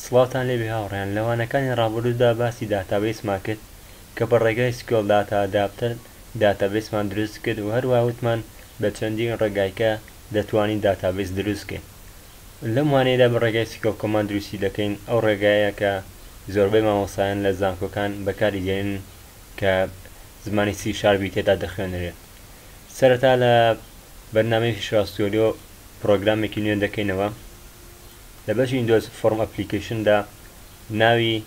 سڵاوتان لێبێ هاوڕێیان، لە وانەکانی ڕابردوودا باسی داتابەیسمان کرد کە بە ڕێگای سکیۆڵ داتا ئەداپتەر داتابەیسمان دروست کرد و هەروەها وتمان بە چەندین ڕێگای کە دەتوانین داتابەیس دروست کەین لەم وانەیەدا بە ڕێگای سکیۆڵ کۆماند دروستی دەکەین ئەو ڕێگایە کە زۆربەی مامۆستایان لە زانکۆکان بەکاری دێنن کە زمانی سی شاربی تێدا دەخوێنرێت سەرەتا لە بەرنامەی فیشواسیۆلیۆ پرۆگرامێکی نوێ دەکەینەوە لە بەشی ویندۆز فۆرم ئەپلیکەیشن دا ناوی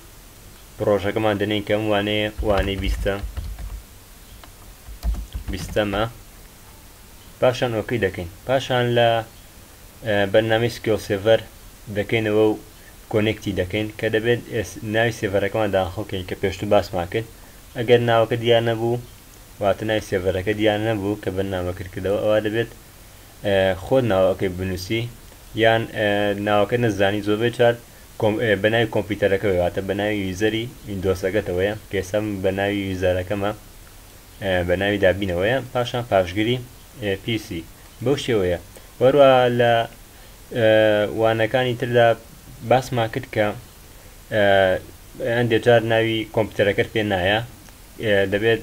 پڕۆژەکەمان دەنێین کە ئەم وانەیە وانەی بیستە بیستەمە پاشان ئۆکی دەکەین پاشان لە بەرنامی سکیۆ سێڤەر دەکەینەوە و کۆنێکتی دەکەین کە دەبێت ناوی سێڤەرەکەمان داخڵکەین کە پێشتو باسمان کرد ئەگەر ناوەکە دیار نەبوو واتە ناوی سێڤەرەکە دیار نەبوو کە بەرنامە کردکردەوە ئەوە دەبێت خۆت ناوەکەی بنوسی یان ناوەکە نەزانی زۆربەی چار بە ناوی کۆمپیوتەرەکە واتە بە ناوی یوزەری ئیندۆسەکەتەوەیە کەێسم بە ناوی یوزارەکەمە بە ناوی دابینەوەیە پاشان پاشگری پیسی بەو شێوەیە وەروە لە وانەکانی تردا باسمان کرد کە ئەندێجار ناوی کۆمپیوتەرەکەت پێ نایە دەبێت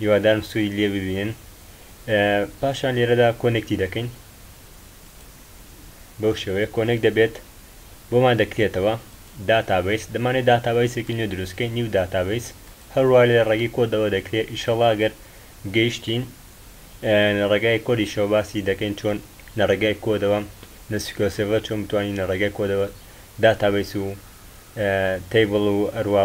هیوادارم سوودی لێ ببینن پاشان لێرەدا کۆنێکتی دەکەین بەو شێوەیە کۆنێک دەبێت بۆمان دەکرێتەوە داتابیس دەمانێت داتابیسێکی نوێ دروستکەین نیو داتابیس هەروە لە ڕێگەی کۆدەوە دەکرێت ئیشەڵاگەر گەیشتین لە ڕێگای کۆدی شەوباسی دەکەین چۆن لە ڕێگای کۆدەوە نسیکۆسێڤە چۆن بتوانین لە ڕێگای کۆدەوە داتابیس و تەیبڵ و ئەروە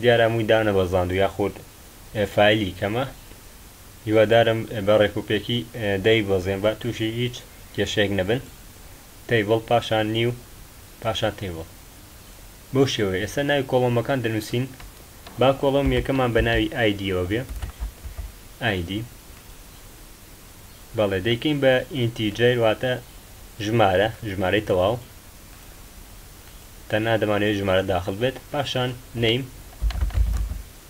دیارە هەمووی دانەبەزاندوو یاخود فایلی کەمە هیوادارم بە ڕێک و پێکی دەیبەزێن با تووشی هیچ کێشەیەک نەبن تەیبڵ پاشان نیو پاشان تەیبڵ بەو شێوەیە ئێستا ناوی کۆڵۆمەکان دەنووسین با کۆڵۆم یەکەمان بە ناوی ئایدیەوە بێ ئایدی بەڵێ دەیکەین بە ئینتیجەر واتە ژمارە ژمارەی تەواو تەنها دەمانەوێت ژمارە داخل بێت پاشان نەیم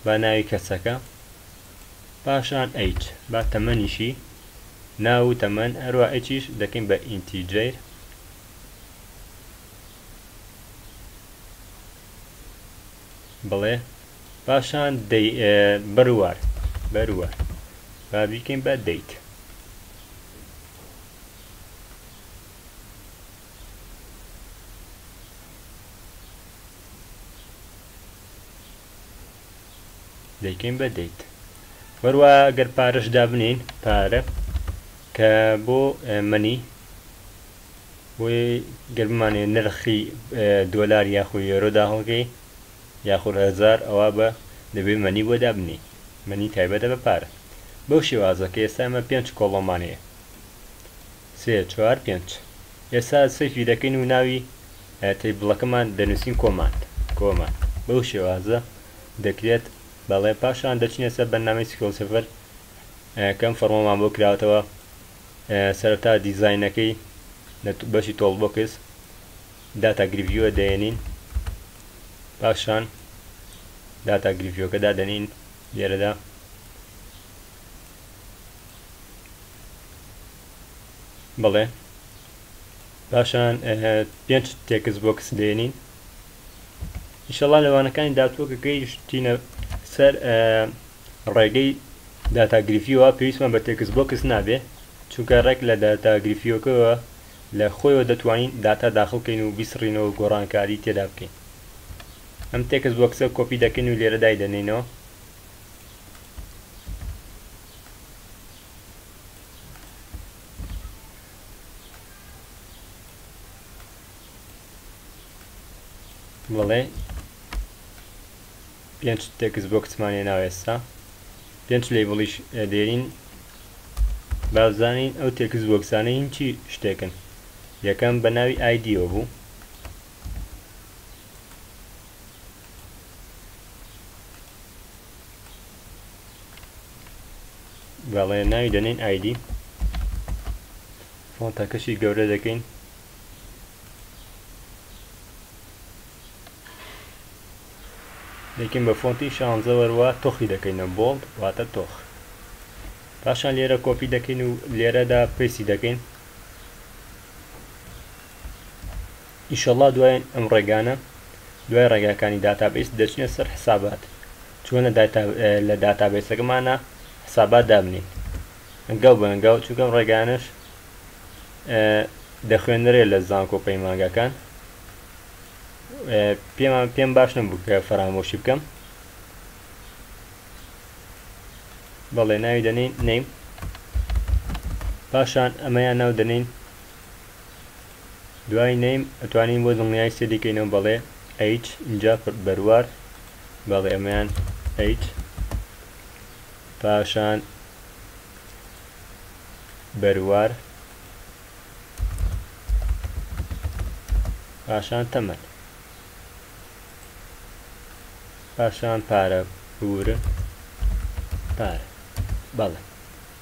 با ناوی کەسەکە پاشان ئەیچ با تەمەنیشی ناو و تەمەن هەروە ئەچیش دەکەین بە ئینتیجەیر بڵێ پاشان بەروار بەروار با بیکەین بە دەیت دەیکەین بە دەیت هەروە گەر پارەش دابنین پارە کە بۆ منی بۆی گەرمانێ نرخی دۆلار یاخۆ یۆرۆ داهڵگەی یاخۆ هزار ئەوە بە دەبێ منی بۆ دابنی منی تایبەتە بە پارە بەو شێوازە کە ئێستا ئەمە پێنج کۆڵۆمانەیە سێ چوار پێنج ئێستا سەیفی دەکەین و ناوی تەیبڵەکەمان دەنووسین کۆماند کۆماند بەو شێوازە دەکرێت بەڵێ پاشان دەچینە سەر بەرنامەی سکیڵ سفر کەم فەرمۆمان بۆ کراوەتەوە سەرەتا دیزاینەکەی لە بەشی تۆڵ بۆکس داتا گرڤیوە دەێنین پاشان داتا گرڤیۆکە دادەنین لێرەدا بڵێ پاشان پێنج تێکس بۆکس دێنین ئیشەڵا لەوانەکانی داتوە کە گەیشتینە سەر ڕێگەی داتاگریفیەوە پێویستمان بە تێکس بۆکس نابێ چونکە ڕێک لە داتاگریفیەکەەوە لە خۆیەوە دەتوانین داتا داخڵکەین و بیسڕینەوە گۆڕانکاری تێدا بکەین ئەم تێکس بۆکسە کۆپی دەکەین و لێرە دای دەنینەوە بڵێ پێنج تێکس بۆکسمانێ ناوێستا پێنج لەیبڵیش دێرین بابزانین ئەو تێکس بۆکسانە هین چی شتێکن یەکەم بە ناوی ئایدیۆ بوو بەڵێ ناوی دەنین ئایدی فۆنتەکەشی گەورە دەکەین دەکەین بە فۆنتی شانزە وەروە تۆخی دەکەینە بۆڵد واتە تۆخ پاشان لێرە کۆپی دەکەین و لێرەدا پێسی دەکەین ئیشەڵا دوای ئەم ڕێگانە دوای ڕێگاکانی داتابیس دەچنە سەر حسابات چۆنە لە داتابیسەکەمانە حسابات دابنین ئەنگاو بە ئەنگاو چونکەم ڕێگانش دەخوێنەرێ لە زانکۆ پەیمانگەکان پێمان پێم باش نەبوو کە فەرامۆشی بکەم بەڵێ ناوی دەنین نیم پاشان ئەمەیان ناو دەنین دوای نەیم ئەتوانین بۆ دڵنیایی سێ دیکەینەوە بەڵێ ئەیچ اینجا بەروار بەڵێ ئەمەیان ئەیچ پاشان بەروار پاشان تەمەن پاشان پارە پورە پارە بەڵێ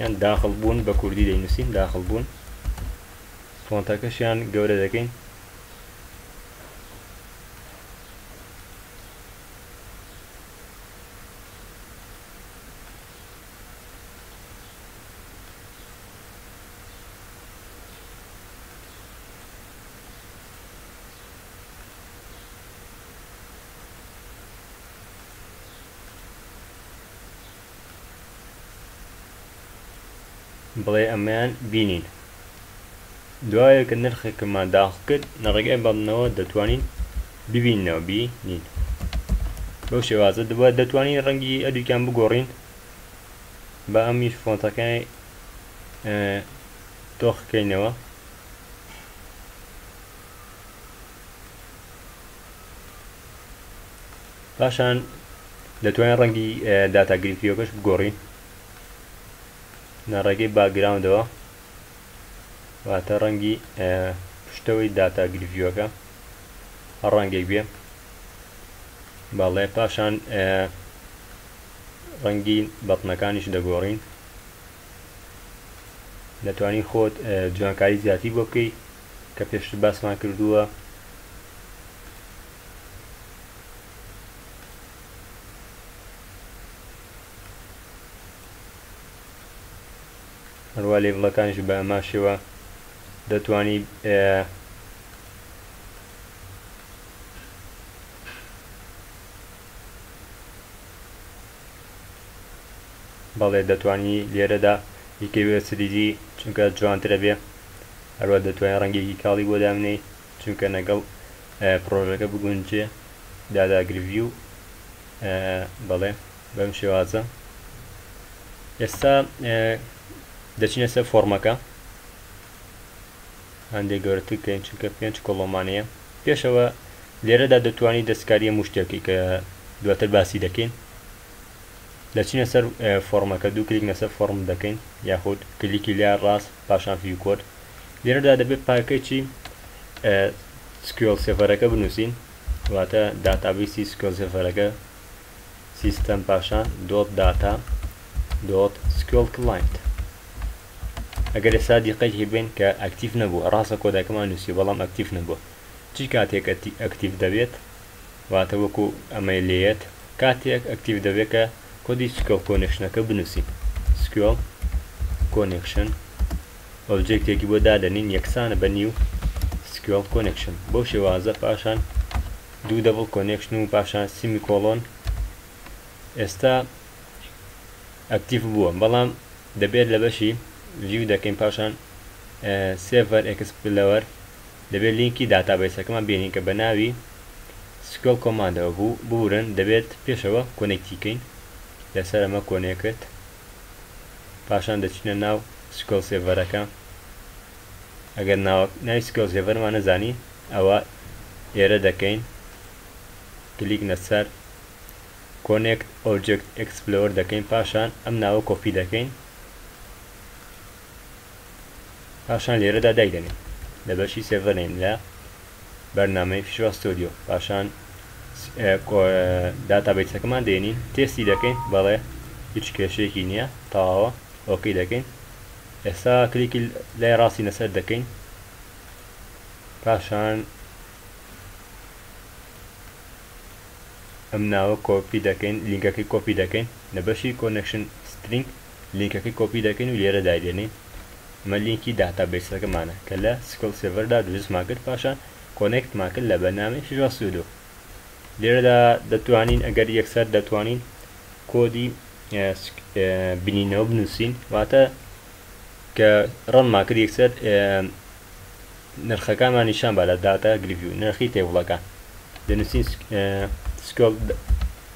یان داخڵ بوون بە کوردی دەینووسین داخڵ بوون فۆنتەکەشیان گەورە دەکەین بڵێ ئەمەیان بینین دوایە کە نرخێکمان داخڵ کرد لە ڕێگای بەڵنەوە دەتوانین ببینەوە بینین بەو شێوازە دوبا دەتوانین ڕەنگی ئەدوکیان بگۆڕین بە ئەمی فۆنتەکانی تۆخکەینەوە پاشان دەتوانین ڕەنگی داتا گرتویەکەش بگۆڕین لە ڕێگەی باگراوندەوە واتە ڕەنگی پشتەوەی داتا گرڤیوەکە هەر ڕەنگێک بێ باڵێ پاشان ڕەنگی بەتنەکانیش دەگۆڕین دەتوانین خۆت جوانکاری زیاتی بۆ بکەیت کە پێشتر باسمان کردووە، هەروا لێڤڵەکانیش بە ئەما شێوە دەتوانی بەڵێ دەتوانی لێرەدا یکەوێ سریزی چونکە جوانترە بێ هەروەها دەتوانی ڕەنگێکی کاڵی بۆ دابنێی چونکە نەگەڵ پڕۆژەکە بگونجێ دادا گرڤیو بەڵێ بەم شێوازە ئێستا دەچینە سەر فۆرمەکە هەندێک گەورەتر کەین چونکە پێنج کۆڵۆمانەیە پێشەوە لێرەدا دەتوانی دەستکاریە مشتێکی کە دواتر باسی دەکەین دەچینە سەر فۆڕمەکە دوو کلیک نەسەر فۆڕم دەکەین یاخود کلیکی لیا ڕاست پاشان فیو کۆد لێرەدا دەبێت پاکەچی سکیۆل سێفەرەکە بنووسین واتە داتابیسی سکیۆل سێفەرەکە سیستەم پاشان دۆت داتا دۆت سکیۆل کلاینت ئەگەر ئێستا دیقەی هێبێن کە ئەکتیف نەبووە ڕاستە کۆدەکەمان نووسی بەڵام ئەکتیف نەبووە چی کاتێک ئەکتیف دەبێت واتە وەکو ئەمەی لێیەت کاتێک ئەکتیڤ دەبێت کە کۆدی سکوێڵ کۆنێکشنەکە بنووسین سکوێڵ کۆنێکشن ئۆبجێکتێکی بۆ دادەنین یەکسانە بە نیو سکوێڵ کۆنێکشن بەو شێوازە پاشان دوو دەبڵ کۆنێکشن و پاشان سیمی کۆڵۆن ئێستا ئەکتیڤ بووە بەڵام دەبێت لە بەشی ڤیو دەکەین پاشان سێڤەر ئەکسپلەوەر دەبێت لینکی داتابەیسەکەمان بێنین کە بەناوی سکیۆل کۆماندەوە بوو ببورن دەبێت پێشەوە کۆنێکتی کەین لەسەر ئەمە کۆنێکت پاشان دەچینە ناو سکیۆل سێڤەرەکە ئەگەر ناوی سکیۆل سێڤەرمان نەزانی ئەوە ئێرە دەکەین کلیک نەسەر کۆنێکت ئۆبجێکت ئێکسپلۆر دەکەین پاشان ئەم ناوە کۆپی دەکەین پاشان لێرەدا دایدەنێین لە بەشی سێڤەرین لە بەرنامەی فیشوال ستۆدیۆ پاشان داتا بیتەکەمان دێنین تێستی دەکەین بەڵێ هیچ کێشەیەکی نییە تەواوە ئۆکی دەکەین ئێستا کلیکی لای ڕاستی نەسەر دەکەین پاشان ئەم ناوە کۆپی دەکەین لینکەکەی کۆپی دەکەین لە بەشی کۆنکشن سترینگ لینکەکەی کۆپی دەکەین و لێرە دایدەنێین ئەمە لینکی داتا بەیسەکەمانە کە لە سکڵ سێڤەردا دروستمان کرد پاشان کۆنێکتمان کرد لە بەرنامەی فیژۆ سودۆ لێرەدا دەتوانین ئەگەر یەکسەر دەتوانین کۆدی بنینەوە بنووسین واتە کە ڕەنمان کرد یەکسەر نرخەکانمان نیشان بە لە داتا گرڤی و نرخی تێوڵەکان دەنووسین سکڵ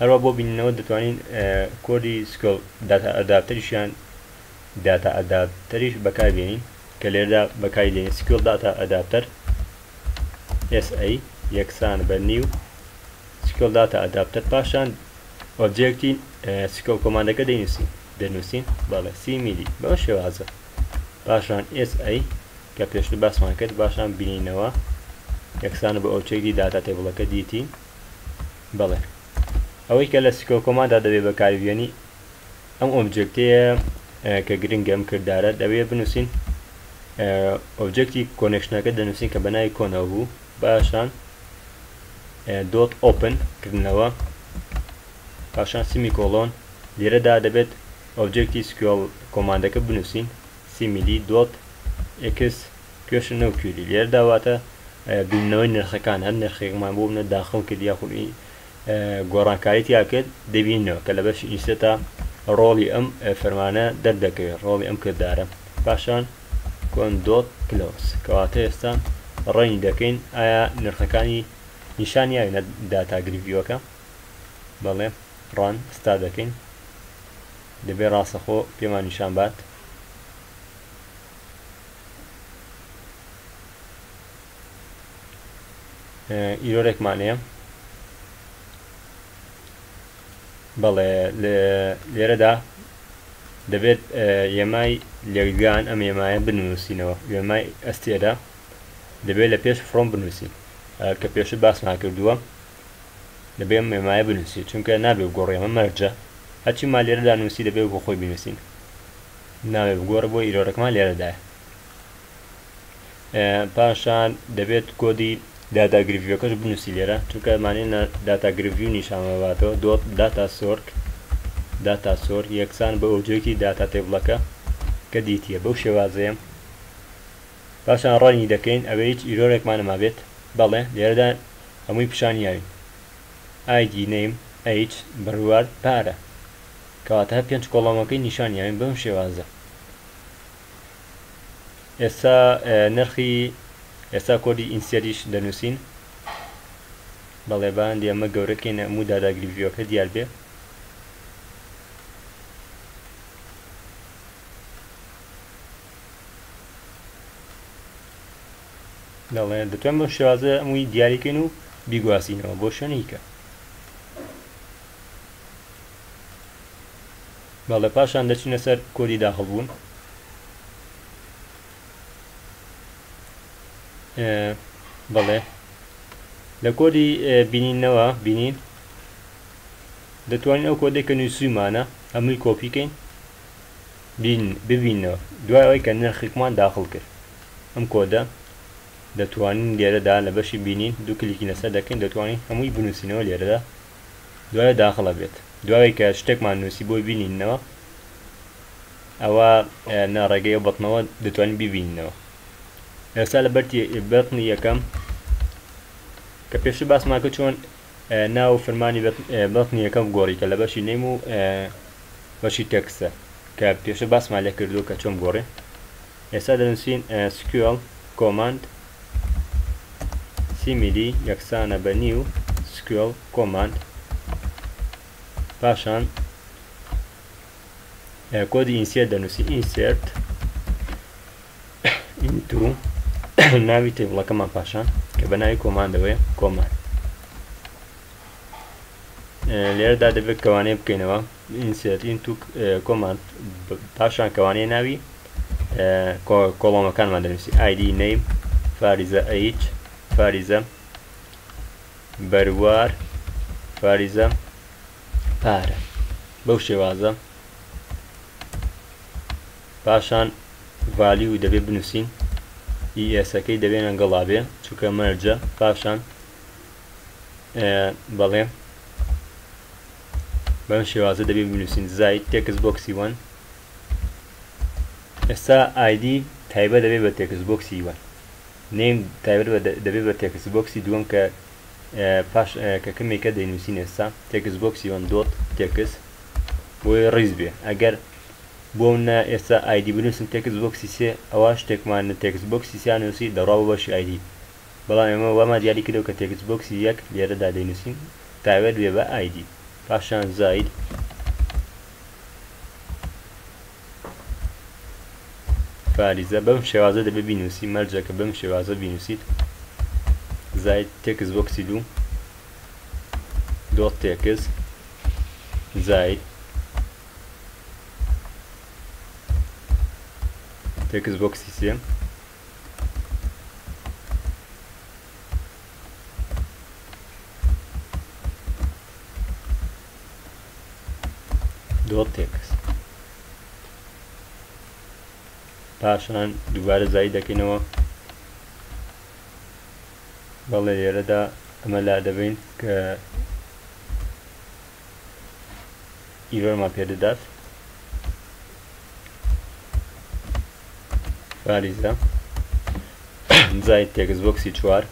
هەروا بۆ بینینەوە دەتوانین کۆدی سکۆل داتا ئەداپتەریش یان داتا ئەداپتەریش بەکار بێنین کە لێردا بەکاری دێنین سکۆل داتا ئەداپتەر SA یەکسان بە نیو سکۆل داتا ئەداپتەر پاشان ئۆبجێکتی سکۆل کۆماندەکە دەینوسین دەنووسین بەڵێ سی میلی بەم شێوازە پاشان SA کە پێشتر باسمان کرد باشان بینینەوە یەکسانە بە ئۆچێکی داتا تێبڵەکە دیتی بەڵێ ئەوەی کە لە سکۆکۆمادا دەبێ بەکاربیێنی ئەم ئۆبجێکتەیە کە گرنگە ئەم کردارە دەبێ بنووسین ئۆبجێکتی کۆنێکشنەکە دەنووسین کە بەناوی کۆنەوە بوو باشان دۆت ئۆپن کردنەوە پاشان سیمی کۆلۆن لێرەدا دەبێت ئۆبجێکتی سکیۆڵ کۆماندەکە بنووسین سیمیلی دۆت ئکس پێش نەو کیوری لێردا واتە بینەوەی نرخەکان هەر نرخێکمان بۆ منە داخڵ کرد یاخود گۆڕانکاری تیا کرد دەبینەوە کە لە بەش ئینسێتا ڕۆڵی ئەم فەرمانە دەردەکەوێت ڕۆڵی ئەم کردارە پاشان کۆندۆت کلۆس کەواتە ئێستا ڕێنی دەکەین ئایا نرخەکانی نیشان یاوینە داتاگریڤیوەکە بەڵێ ڕان ستا دەکەین دەبێ ڕاستەخۆ پێمان نیشان بات ئیرۆرێکمان هەیە بەڵێ لێرەدا دەبێت یەمای لێگان ئەم ێمایە بنووسینەوە وێمای ئەستێرە دەبێت لە پێش فرۆم بنووسین کە پێشە باسمان کردووە دەبێ مێمایە بنووسی چونکە نابێ گۆڕێمە مەرجە هەچی ما لێرەدا نووسی دەبێ بۆ خۆی بنووسین ناوێ بگۆڕە بۆ ئیرۆرەکمان لێرەدایە پاشان دەبێت کۆدی داتا گرڤیەکەش بنووسی لێرە چونکە مانێنە داتا گرڤی و نیشانەوەاتەوە دۆت داتا سۆرک داتا سۆر یەکسان بە ئۆبجێکی داتا تێبڵەکە کە دیتیە بەو شێوازەیە پاشان ڕەنی دەکەین ئەوە هیچ ئیرۆرێکمانەما بێت بەڵێ لێرەدا هەمووی پیشانیاوین ئایدی نیم ئەیچ بڕوار پارە کەواتە پێنج کۆڵۆمەکەی نیشان یاوین بەم شێوازە ئێستا نرخی ئێستا کۆدی ئینسیەریش دەنووسین بەڵێ باندی ئەمە گەورەکەی نەموو داداگری ڤیوەکە دیار بێ دەڵێ دەتوان بەم شێوازە ئەمووی دیاریکەین و بیگوازینەوە بۆ شوێنیکە بەڵێ پاشان دەچینە سەر کۆدی داخڵبوون بەڵێ لە کۆدی بینینەوە بینین دەتوانین ئەو کۆدێک کە نووسیمانە ئەمووی کۆپیکەین ببینەوە دوای ئەوەی کە نرخێکمان داخڵ کرد ئەم کۆدە دەتوانین لێرەدا لە بەشی بینین دوو کلیکی لەسەر دەکەین دەتوانین هەمووی بنووسینەوە لێرەدا دوایە داخڵ ئەبێت دوای کە شتێکمان نووسی بۆی بینینەوە ئەوە نا ڕێگەی ئەو بەتنەوە دەتوانین ببینینەوە ئێستا لە بەرتی بەتنی یەکەم کە پێشتر باسمان کە چۆن ناو فرمانی بەتنی یەکەم گۆڕی کە لە بەشی نیم و بەشی تەکسە کە پێشە باسمان لێ کردو کە چۆن گۆڕێ ئێستا دەنووسین sql کۆماند سیمیلی یەکسانە بە نیو sql کۆماند پاشان کۆدی ئینسێرت دەنووسین ئینسێرت ئینتو ناوی تێبڵەکەمان پاشان کە بە ناوی کۆماندەوەی کۆمان لێرەدا دەبێت کەوانەیە بکەینەوە ئینسێرت ئینتو کۆماند پاشان کەوانەیە ناوی کۆڵۆمەکانمان دەنووسی ئایدی نەیم فاریزە ئەیچ فاریزە بەروار فاریزە پارە بەو شێوازە پاشان ڤالی و دەبێ بنووسین ئیسەکەی e دەبێنە گەڵابێ چووکە مەرجە پاشان بەڵێ بەم شێوازە دەبێت بنووسین زای تێکس بۆکسی وەن ئێستا ئایدی تایبە دەبێت بە تێکس بۆکسی وەن نیم تایبەت دەبێت بە تێکس بۆکسی دووەم کە پاش کە کەمێکە دەینووسین ئێستا تێکس بۆکسی وەن دۆت تێکس بۆی ڕیز بێ ئەگەر بۆ نە ئێستا ئایدی بنووسن تێکس بۆکسی سێ ئەوە شتێکمان تێکس بۆکسی سیانوسی دەڕاو بەشی ئایدی بەڵام ئێمە وامان دیاری کردەوە کە تێکست بۆکسی یەک لێرەدا دەینووسین تاوێر بێ بە ئای دی پاشان زاید فاریزە بەم شێوازە دەبێ بینووسی مەرجە کە بەم شێوازە بینووسیت زاید تێکست بۆکسی دوو دۆت تێکست زاید تێکست بۆکسی سێ دۆتێکس پاشان دووبارە زای دەکەینەوە بەڵێ لێرەدا ئەمە لا دەبین کە ئیرۆرمان پێ دەدات باریزە جای تێکس بۆکسی چوار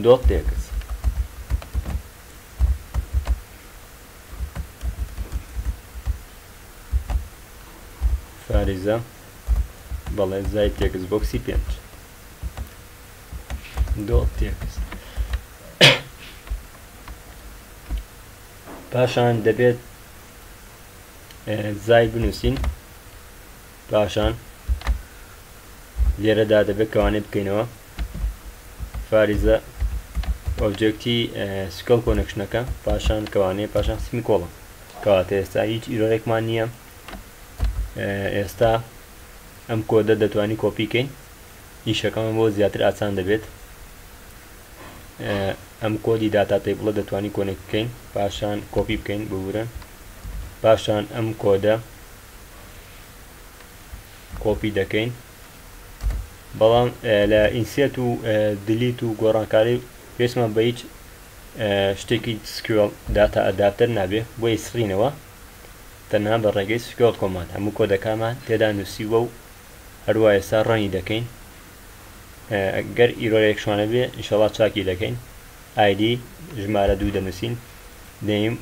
دۆ تێکس فاریزە بەڵێ زای تێکس بۆکسی پێنج پاشان دەبێت زای بنووسین پاشان لێرەدا دەبێت کەوانێ بکەینەوە فاریزە ئۆبجێکتی سکڵ کۆنکشنەکە پاشان کەوانێ پاشان سمی کۆڵم کەواتە ئێستا هیچ ئیرۆرێکمان نییە ئێستا ئەم کۆدە دەتوانی کۆپی کەین ئیشەکەمان بۆ زیاتر ئاسان دەبێت ئەم کۆدی داتا تەیبڵە دەتوانی کۆنێک بکەین پاشان کۆپی بکەین ببورن پاشان ئەم کۆدە کۆپی دەکەین بەڵام لە ئینسێت و دلیت و گۆڕانکاری پێشمان بە هیچ شتێکی سکوێڵ داتا ئەداپتەر نابێ بۆ ئیسڕینەوە تەنها بە ڕێگەی سکرۆڵ کۆماند هەموو کۆدەکانمان تێدا نووسیووە و هەروا ئێستا ڕەنی دەکەین گەر ئیرۆرێک شوانە بێ ئینشەڵا چاکی دەکەین ئایدی ژمارە دوو دەنووسین نەیم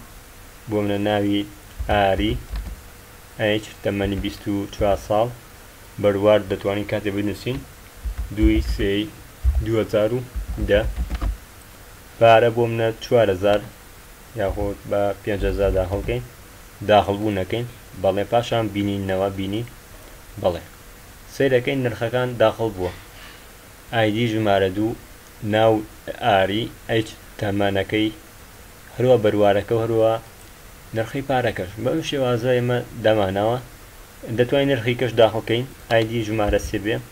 بۆ منە ناوی ئاری ئەیچ تەمەنی 24 ساڵ بەروارد دەتوانین کاتێ بنووسین دووی سێی 2010 پارە بۆ منە 4000 یاخود بە پێنج هەزار داخڵ کەین داخڵ بوو نەکەین بەڵێ پاشان بینین نەوە بینی بەڵێ سەیرەکەین نرخەکان داخڵ بووە ئایدی ژمارە دوو ناو ئاری ئەیچ تەمەنەکەی هەروە بەروارەکە هەروە نرخی پارەکەش بەم شێوازە ئێمە داماناوە دەتوانین نرخی کەش داخڵکەین ئایدی ژمارە سێ بێ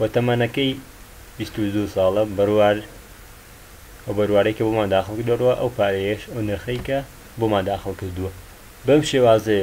و تەمەنەکەی بیست و دوو ساڵە بەروار ئەو بەروارەی کە بۆمان داخڵ کردوە ئەو پارەیەش ئەو نرخەی کە بۆمان داخڵ کردوە بەم شێوازەیە